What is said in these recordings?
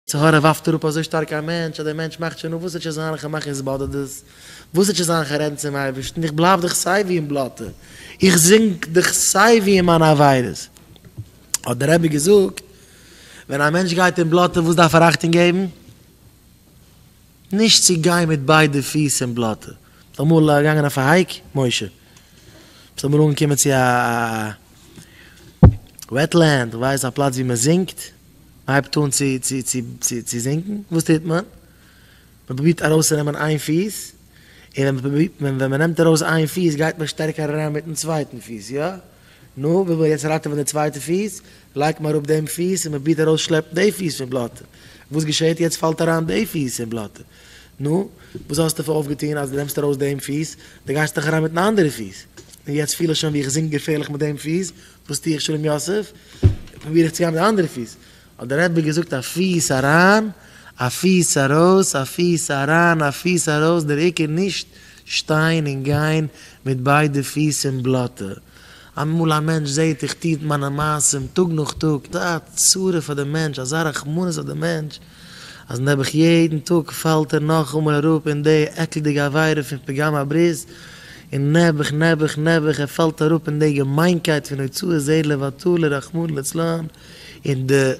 צו הרה ווארפט אראפ אזוי שטארק א מענטש אז דער מענטש מאכט שוין אן וואס ער טשע זיין איך מאך עס באדערט דאס וואס ער טשע זיין איך רעדן צום אייבערשטן איך בלייב דאך סייווי אין בלאטע איך זינק דאך סייווי אין מיינע עבירות האט דער רבי געזאגט ווען א מענטש גייט אין בלאטע וואס דארף ער אכטונג געבן נישט צו גיין מיט ביידע פיס אין בלאטע ביסט אמאל געגאנגען אויף א הייק משה? ביסט אמאל אנגעקומען צו א. וועטלענד, איך ווייס א פלאץ ווי מען זינקט, מען הייבט אן צו צו צו צו צו זינקן, וואס טוט מען? מען פרובירט ארויסצונעמען איין פיס, און ווען מען פרובירט, ווען מען נעמט ארויס איין פיס גייט מען שטערקער אריין מיטן צווייטן פיס, יא? נו, וויל מען יעצט ראטעווען די צווייטע פיס, לייגט מען אראפ דעם פיס און מען פרובירט ארויסשלעפן די פיס פון בלאטע, וואס געשעהט יעצט? פאלט אריין די פיס אין בלאטע, נו, וואס האסטו פאר אויפגעטון אז דו נעמסט ארויס דעם פיס? דו גייסט דאך אריין מיטן אנדערע פיס. נו, יעצט פיל איך שוין ווי איך זינק געפערליך מיט דעם פיס, וואס טו איך שלום יוסף? פרוביר איך צו גיין מיט די אנדערע פיס. האט דער רבי געזאגט א פיס אריין, א פיס ארויס, א פיס אריין, א פיס ארויס, דער עיקר נישט שטיין און גיין מיט ביידע פיס אין בלאטע. אמאל א מענטש זעט איך טוט מיינע מעשים טאג נאך טאג, אזא צרה פאר דעם מענטש, אזא רחמנות אויף דעם מענטש, אז נעבעך יעדן טאג פאלט ער נאכאמאל אראפ אין די עקלדיגע עבירה פון פגם הברית, און נעבעך נעבעך נעבעך ער פאלט אראפ אין די געמיינקייט פון הוצאת זרע לבטלה רחמנא לצלן, און די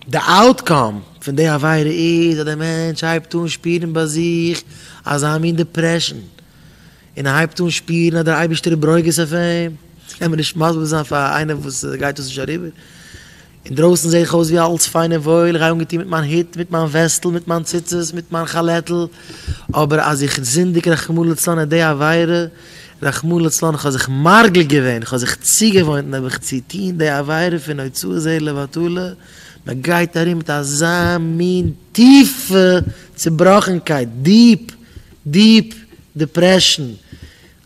די אוטקאם פון די עבירה איז אז די מענטש הייבט אן שפירן ביי זיך אזא מין דיפרעשן, און ער הייבט אן שפירן אז דער אייבערשטער איז ברוגז אויף אים, קען מען נישט מסביר זיין פאר איינער וואס גייט דאס נישט אריבער. אינדרויסן זע איך אויס ווי אלץ פיין און וואויל, איך גיי אנגעטון מיט מיין הוט, מיט מיין וועסטל, מיט מיין ציצית, מיט מיין כאלעטל, אבער אז איך זינדיג רחמנא לצלן אט די עבירה, רחמנא לצלן, איך האב זיך מרגיל געווען, איך האב זיך צוגעוואוינט נעב איך צו טון די עבירה פון הוצאת זרע לבטלה, מען גייט ארום מיט אזא מין טיפע צובראכנקייט, דיעפ, דיעפ, דעפרעשן,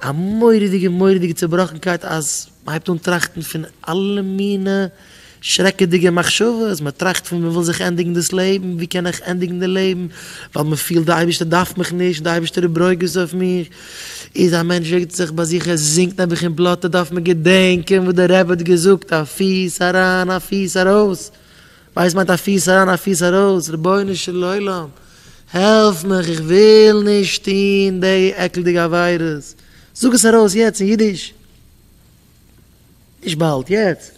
א מורא'דיגע מורא'דיגע צובראכנקייט אז מ'הייבט אן טראכטן פון אלע מינע שרעקעדיגע מחשבות, מ'טראכט פון מ'וויל זיך ענדיגן דאס לעבן, ווי קען איך ענדיגן די לעבן, ווייל מ'פילט די אייבערשטער דארף מיך נישט, די אייבערשטער איז ברוגז אויף מיך, איז א מענטש רעגט זיך ביי זיך ער זינגט נעבעך אין בלאטע דארף מען געדענקען וואס דער רבי האט געזאגט א פיס אריין א פיס ארויס, ווייס מיינט א פיס אריין א פיס ארויס, רבונו של עולם העלף מיך איך וויל נישט טוהן דעי עקלדיגע עבירות, זאג עס ארויס יעצט אין אידיש, נישט באלד, יעצט,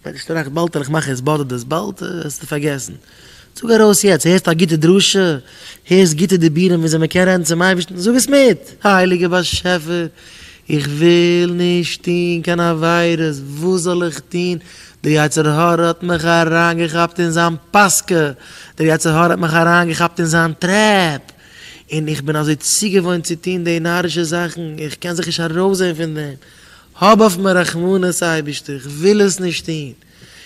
ווען די שטראך באלד וועל איך מאכן עס באדערט דאס באלד וועסטו פארגעסן, זאג ארויס יעצט, הערסט א גוטע דרשה, הערסט גוטע דיבורים וויאזוי מען קען רעדן צום אייבערשטן, זאג עס מיט, הייליגער באשעפער איך וויל נישט טוהן קיין עבירות, וואס זאל איך טוהן, דער יצר הרע האט מיך אריינגעכאפט אין זיין פאסקע, דער יצר הרע האט מיך אריינגעכאפט אין זיין טרעפ, און איך בין אזוי צוגעוואוינט צו טון די נארישע זאכן, איך קען זיך נישט ארויסזען פון דעם, האב אויף מיר רחמנות אייבערשטער, איך וויל עס נישט טון,